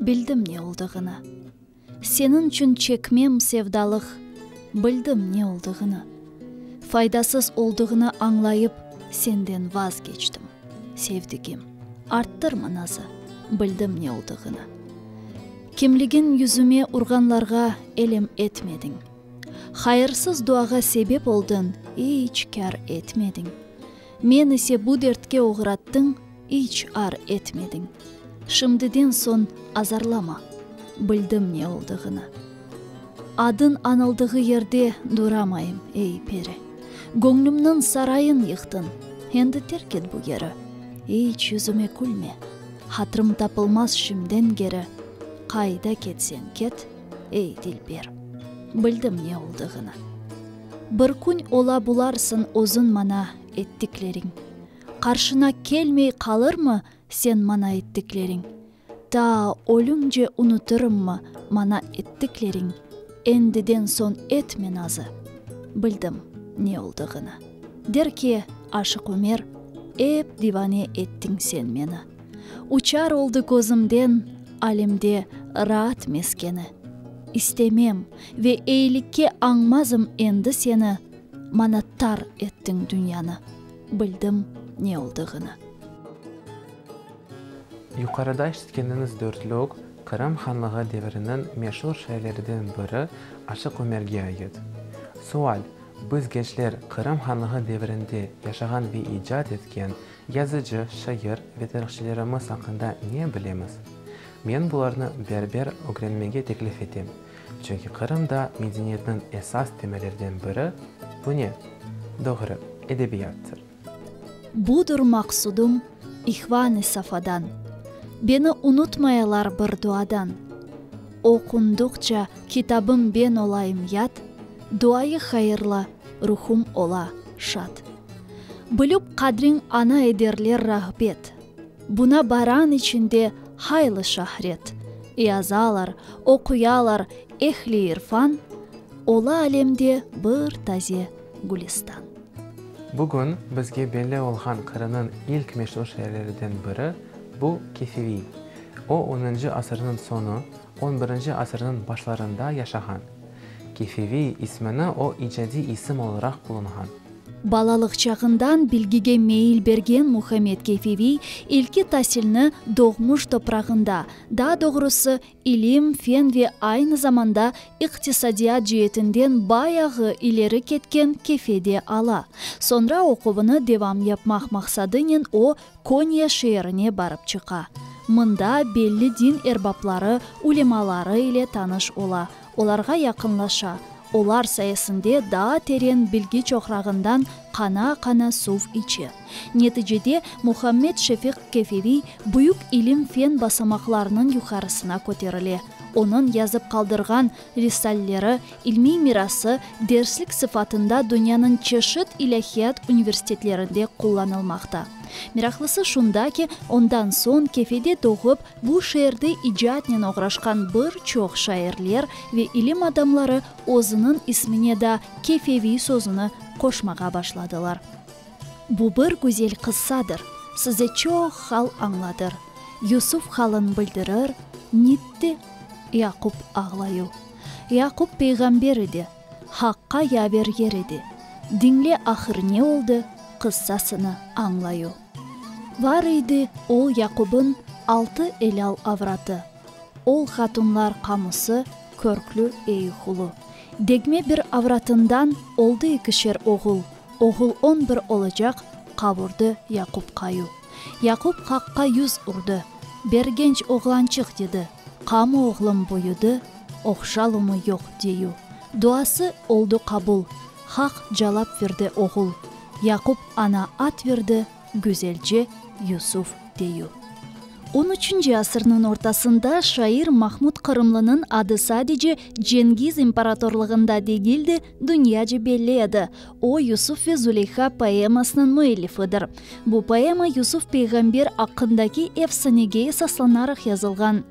Bildim ne oldığını. Seniñ içün çekmem sevdalıq, Bildim ne oldığını. Faydasız oldığını añlayıp, Senden vazgeçtim, sevdigim, Arttırma nazı, bildim ne oldığını. Kimligiñ yüzüme urğanlarğa Elem etmediñ. Hayırsız duağa sebep oldın, İç kâr etmediñ. Men ise bu dertke oğrattıñ, iç ar etmediñ. Şimdiden soñ azarlama, bildim ne oldığını. Adın anıldığı yerde duramayım, ey, peri. Göñlümniñ sarayın yıqtıñ, endi terk et bu yeri. İç yüzüme külme, hatırım tapılmaz şimdiden geri. Qayda ketseñ ket, ey, dilber, bildim ne oldığını. Bir kün ola bularsıñ özüñ maña ettikleriñ. Qarşına kelmey qalırmı señ maña ettikleriñ? Ta ölümce unutırımmı maña ettikleriñ? Endiden soñ etme nazı. Bildim ne oldığını. Der ki, Aşıq Ömer, ep divane ettiñ señ meni. Uçar oldı közümden alemde raat meskeni. İstemem ve eylikke añmazım endi seni, Maña tar ettiñ dünyanı, bildim ne oldığını. Yuqarıda işitkeniñiz dörtlük, Qırım Hanlığı deviriniñ meşur şiirleriden biri Aşıq Ömerge ait. Sual, Biz, gençler, Qırım Hanlığı devirinde yaşağan ve icat etken, Yazıcı, şair ve tarihçilerimiz aqqında ne bilemiz? Men bularnı berber ögrenmege teklif etem, çünki Qırımda medeniyetniñ esas temellerden biri, bu ne? Doğru, edebiyattır. Budur maqsudım İhvan-ı Safadan, Beni unutmayalar bir duadan. Oqundıqça kitabım ben olayım yad, Duayı hayırlı, ruhum ola şad. Bilüp qadriñ ana ederler rağbet. Buna baran içinde haylı şahret. Yazalar, oquyalar ehli irfan, Ola alemde bir taze Gülüstan. Bugün bizge belli olğan Qırınıñ ilk meşur şairleriden biri bu Kefiviy. O, onıncı asırnıñ soñu, on birinci asırnıñ başlarında yaşağan. Kefiviy ismini o icadiy isim olaraq qullanğan. Balalıq çağından bilgige meyil bergen Muhammed Keyfeviy ilki tasilni doğmuş toprağında, daa doğrusı, ilim, fen ve aynı zamanda iqtisadiyat ceetinden bayağı ileri ketken Kefede ala. Soñra oquvını devam yapmaq maqsadınen o, Konya şeerine barıp çıqa. Mında belli din erbapları, ulemaları ile tanış ola, Olarğa yaqınlaşa, olar sayesinde daa teren bilgi çoqrağından qana-qana suv içe. Neticede, Muhammed Şefiq Keferiy büyük ilim-fen basamaqlarınıñ yuqarısına köterile. Onıñ yazıp qaldırğan risalleri, ilmiy mirası derslik sıfatında dünyanıñ çeşit ilâhiyat universitetlerinde qullanılmaqta. Meraqlısı şunda ki, ondan soñ Kefede doğıp, Bu şeerde icatnen oğraşqan bir çoq şairler ve ilim adamları özüniñ ismine da Kefeviy sözüni qoşmağa başladılar. Bu bir güzel qıssadır, size çoq hal añladır, Yusuf halın bildirir, nitti, Yaqub ağlayu. Yaqub peyğamber edi, Haqqa yaver yer edi, diñle ahır ne oldı, qıssasını añlayu. Var eydi oğ Yaqubın altı elâl avratı, Oğ hatunlar qamusı, körklü Eyuhulu. Degme bir avratından oldı ikişer oğul, Oğul on bir olacaq, qavurdı Yaqub qayu. Yaqub Haqqa yüz urdı, Bergenç oğlançıq, dedi. Qamı oğlum büyüdi, oqşalımı yoq deyu. Duası oldu qabul, Haq calap verdi oğul. Yaqub ana at verdi, güzelce Yusuf deyu. On üçünci asırnıñ ortasında şair Mahmud Qırımlınıñ adı sadece Cengiz imparatorlığında degil de, dünyace belli edi. O, Yusuf ve Zuleyha poemasınıñ müellifidir. Bu poema Yusuf peyğamber aqqındaki efsanege esaslanaraq yazılğan.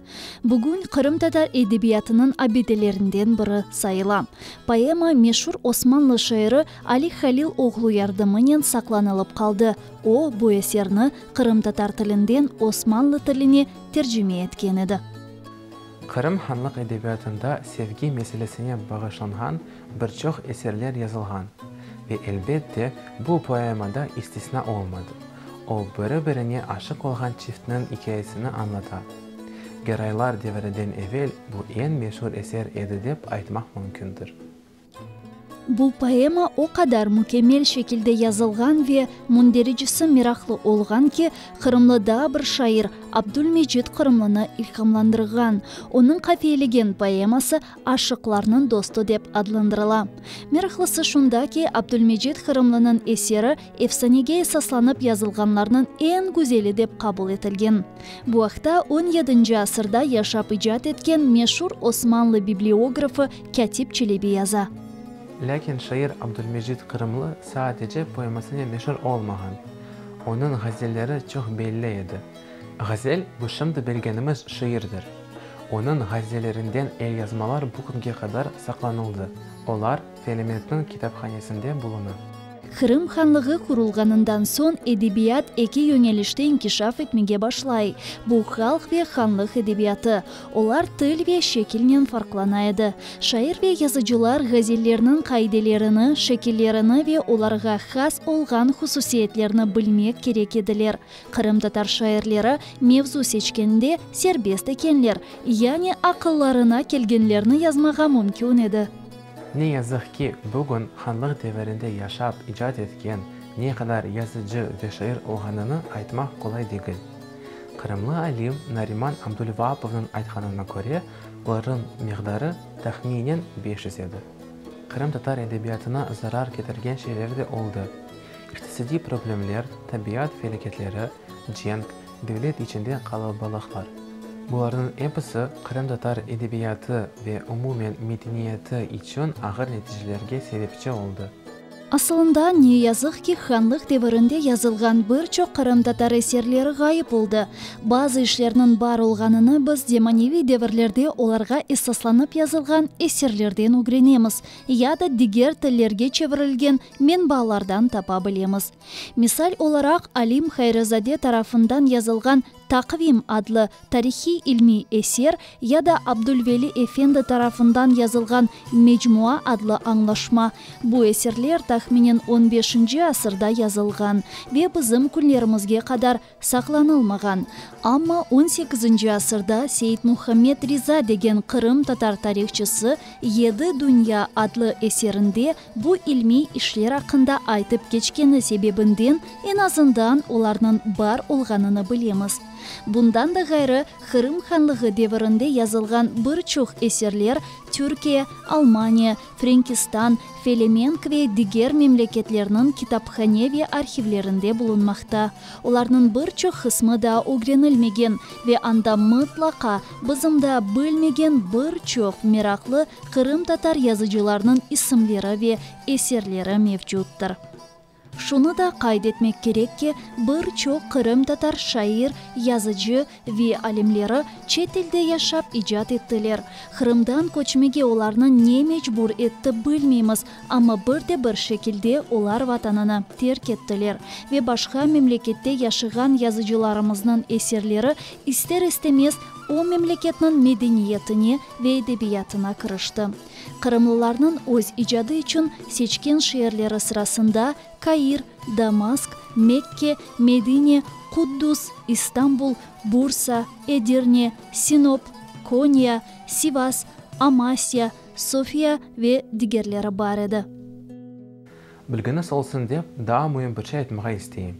Bugün qırımtatar edebiyatınıñ abidelerinden biri sayıla. Poema meşur osmanlı şairi Ali Halil oğlu yardımınen saqlanılıp qaldı, o, bu eserni qırımtatar tilinden osmanlı tiline tercime etken edi. Qırım hanlıq edebiyatında sevgi meselesine bağışlanğan Bir çoq eserler yazılğan ve, elbet de, bu poema da istisna olmadı. O, biri-birine aşıq olğan çiftniñ ikâyesini añlata. Geraylar devriden evel bu eñ meşur eser edi dep aytmaq mümkündir. Bu poema o qadar mükemmel şekilde yazılğan ve mündericisi meraqlı olğan ki, qırımlı daa bir şair Abdülmecit Qırımlını ilhamlandırğan. Onıñ qafiyelegen poeması aşıqlarnıñ dostu dep adlandırıla. Meraqlısı şunda ki, Abdülmecid Qırımlınıñ eseri efsanege esaslanıp yazılğanlarnıñ eñ güzeli dep qabul etilgen. Bu aqta on yedinci asırda yaşap icat etken meşur osmanlı bibliografı Kâtip Çelebi yaza. Lâkin şair Abdülmecid Qırımlı sadece poemasınen meşur olmağan. Onıñ ğazelleri çoq belli edi. Ğazel, bu şimdi bilgenimiz şiirdir. Onıñ ğazelerinden elyazmalar bu künge qadar saqlanıldı, olar Felementniñ kitaphanesinde buluna. Qırım Hanlığı qurulğanından soñ edebiyat eki yönelişte inkişaf etmege başlay, bu, halq ve hanlıq edebiyatı. Olar til ve şekilnen farqlana edi. Şair ve yazıcılar ğazellerniñ qaidelerini, şekillerini ve olarğa has olğan hususiyetlerni bilmek kerek ediler, Qırımtatar şairleri mevzu seçkende serbest ekenler, yani aqıllarına kelgenlerni yazmağa mümkün edi. Ne yazıq ki, bugün hanlıq devirinde yaşap, icat etken ne qadar yazıcı ve şair olğanını aytmaq qolay degil. Qırımlı alim Nariman Abdulvaapovnıñ aytqanına köre, olarnıñ miqdarı, tahminen, beş yüz edi. Qırımtatar edebiyatına zarar ketirgen şeyler de oldı. İqtisadiy problemler, tabiat felâketleri, cenk, devlet içinde qalabaliqlar, bularnıñ episi qırımtatar edebiyatı ve umumen medeniyeti içün ağır neticelerge sebepçi oldı. Asılında, ne yazıq ki, hanlıq devirinde yazılğan bir çoq qırımtatar eserleri ğayıp oldı. Bazı işlerniñ bar olğanını biz zemaneviy devirlerde olarğa esaslanıp yazılğan eserlerden ögrenemiz ya da diger tillerge çevirilgen Menbaalardan tapa bilemiz. Misal olaraq, alim Hayrizade tarafından yazılğan Taqvim adlı tarihiy-ilmiy eser ya da Abdulveli efendi tarafından yazılğan Mecmua adlı añlaşma. Bu eserler, tahminen, on beşinci asırda yazılğan ve bizim künlerimizge qadar saqlanılmağan, amma on sekizinci asırda Seit-Muhammed Riza degen Qırım tatar tarihçısı Yedi dünya adlı eserinde bu ilmiy işler aqqında aytıp keçkeni sebebinden en azından olarnıñ bar olğanını bilemiz. Bundan da ğayrı, Qırım Hanlığı devirinde yazılğan bir çoq eserler Türkiye, Almaniya, Frenkistan, Felemenk ve diger memleketlerniñ kitaphane ve arhivlerinde bulunmaqta. Olarnıñ bir çoq qısmı daa ögrenilmegen ve anda mıtlaqa bizim daa bilmegen bir çoq meraqlı qırımtatar yazıcılarnıñ isimleri ve eserleri mevcuttir. Şunı da qayd etmek kerek ki, bir çoq qırımtatar şair, yazıcı ve alimleri çet elde yaşap icat ettiler. Qırımdan köçmege olarnı ne mecbur etti, bilmeymiz, amma bir de bir şekilde olar vatanını terk ettiler ve başqa memlekette yaşığan yazıcılarımıznıñ eserleri ister-istemez o memleketniñ medeniyetine ve edebiyatına kirişti. Qırımlılarnıñ öz icadı içün seçken şeerleri sırasında Kair, Damask, Mekke, Medine, Quddus, İstanbul, Bursa, Edirne, Sinop, Konya, Sivas, Amasya, Sofiya ve digerleri bar edi. Bilginiz olsun dep, daa müim bir şey aytmağa isteyim.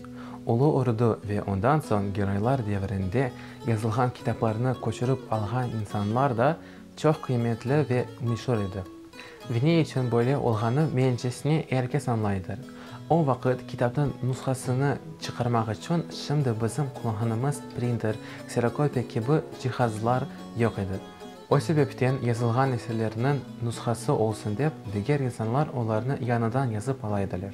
Ulu Urdu ve ondan soñ Giroylar devrinde yazılğan kitaplarnı köçürip alğan insanlar da Çoq qıymetli ve meşur edi. Ve ne içün böyle olğanı mencesine er kes añlaydır. O vaqıt kitapnıñ nushasını çıqarmaq içün şimdi bizim qullanğanımız printer, kserokopiya kibi cihazlar yoq edi. O sebepten yazılğan eserlerniñ nushası olsun dep, diger insanlar olarnı yañıdan yazıp ala ediler.